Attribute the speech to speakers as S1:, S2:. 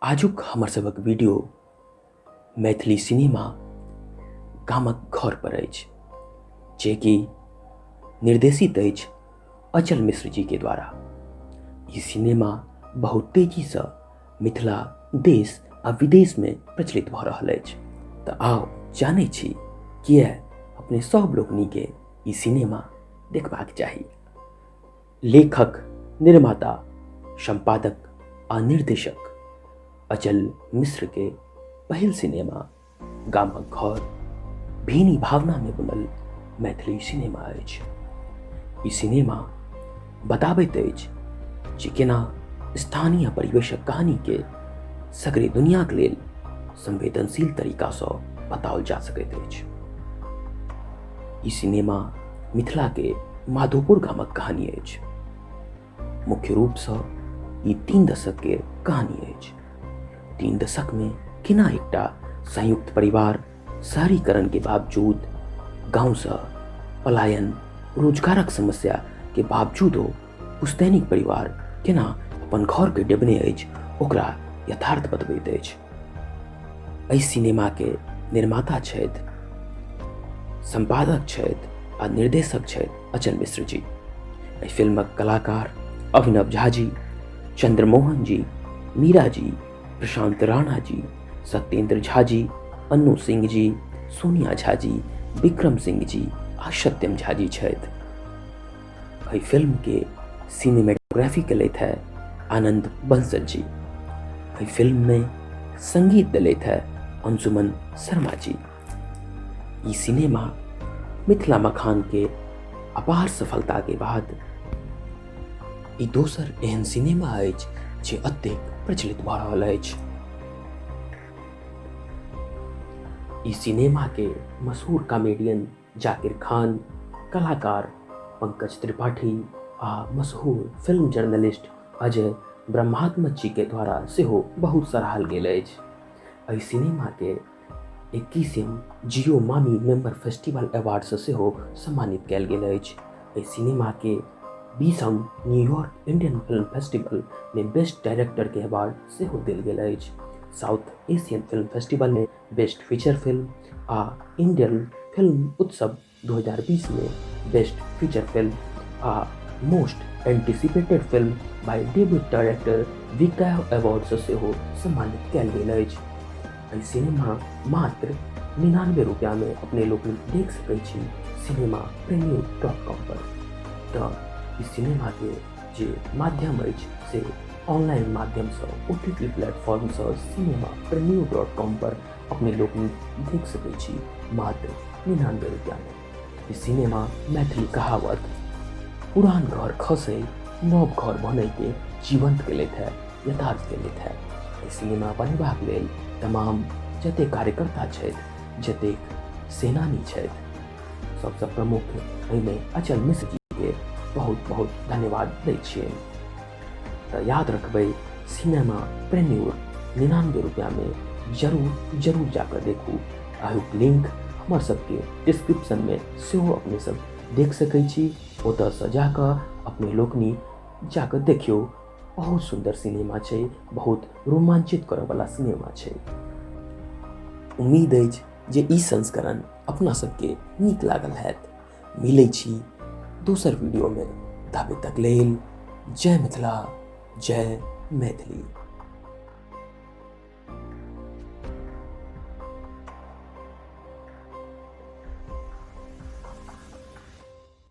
S1: आजुक हमर सभक वीडियो मैथिली सिनेमा गामक घर पर अछि जे कि निर्देशित अछि अचल मिश्र जी के द्वारा ई सिनेमा बहुत तेजी से मिथिला देश आ विदेश में प्रचलित भ रहल अछि तऽ आउ जानै छी किए अपने सब लोकनि के ई सिनेमा देखबाक चाही लेखक निर्माता संपादक आ निर्देशक अचल मिश्र के पहिल सिनेमा गामक घर भीनी भावना में बनल मैथिली सिनेमा अछि ई सिनेमा बताबैत अछि जे केना स्थानीय परिवेशक कहानी के सगरे दुनियाक लेल संवेदनशील तरीकासँ बताओल जा सकैत अछि ई सिनेमा मिथिलाके माधोपुर गामक कहानी अछि मुख्य रूपसँ ई तीन दशकके कहानी अछि तीन दशकमे केना एकटा संयुक्त परिवार शहरीकरणके बावजूद गाँवसँ पलायन रोजगारक समस्याके बावजूदो पुस्तैनिक परिवार केना अपन घर के डेबने अछि ओकरा यथार्थ बतबैत अछि एहि सिनेमा के निर्माता छथि संपादक छथि आ निर्देशक छथि अचल मिश्र जी एहि फिल्मक कलाकार अभिनव झा जी चंद्रमोहन जी मीरा जी प्रशांत राणा जी सत्येंद्र झा जी अन्नू सिंह जी सोनिया झा जी विक्रम सिंह जी आ सत्यम झा जी छथि एहि फिल्मके सिनेमेटोग्राफी कयलथि है आनंद बंसल जी एहि फिल्ममे संगीत दिलथि है अंजुमन शर्मा जी ई सिनेमा मिथिला मखान के अपार सफलता के बाद ई दोसर एहन सिनेमा अछि जे अत्यधिक प्रचलित भऽ रहल अछि ई सिनेमा के मशहूर कॉमेडियन जाकिर खान कलाकार पंकज त्रिपाठी आ मशहूर फिल्म जर्नलिस्ट अजय ब्रह्मात्मा जी के द्वारा सेहो बहुत सराहल गेल अछि एहि सिनेमा के इक्कीसम Jio MAMI member festival award से सेहो सम्मानित कयल गेल अछि एहि सिनेमा के बीसम न्यूयॉर्क इंडियन फिल्म फेस्टिवल में बेस्ट डायरेक्टर के अवार्ड सेहो देल गेल अछि साउथ एशियन फिल्म फेस्टिवल में बेस्ट फीचर फिल्म आ इंडियन फिल्म उत्सव 2020 में बेस्ट फीचर फिल्म आ most anticipated film by debut director विकाय अवार्ड से सेहो सम्मानित कयल गेल अछि एहि सिनेमा मात्र निनानबे रुपया में अपने लोग देख सकैत छी सिनेमा प्रेमी डॉट कॉम पर तऽ ई सिनेमा के जे माध्यम अछि से ऑनलाइन माध्यमसँ ओ टी टी प्लेटफॉर्मसँ सिनेमा प्रेमियो डॉट कॉम पर अपने लोक देख सकैत छी मात्र निनानबे रुपैआमे सिनेमा मैथिली कहावत पुरान घर खसे नव घर बनैके जीवंत केलथि है यथार्थ केलथि है सिनेमा बनेबाक लेल तमाम जतेक कार्यकर्ता छथि जतेक सेनानी छथि सबसँ प्रमुख एहिमे अचल मिश्र जीके बहुत बहुत धन्यवाद दै छियै तऽ याद रखबै सिनेमा प्रेन्योर निनानबे रुपैआमे जरूर जरूर जाकर देखू अहिक लिंक हमर सबके डिस्क्रिप्शनमे सेहो अपने सब देख सकै छी ओतऽसँ जाकऽ अपने लोकनि जाकऽ देखियौ बहुत सुन्दर सिनेमा छै बहुत रोमांचित करऽवला सिनेमा छै उम्मीद अछि जे ई संस्करण अपना सबके नीक लागल हैत मिलै छी दोसर वीडियोमे ताबे तक लेल जय मिथिला जय मैथिली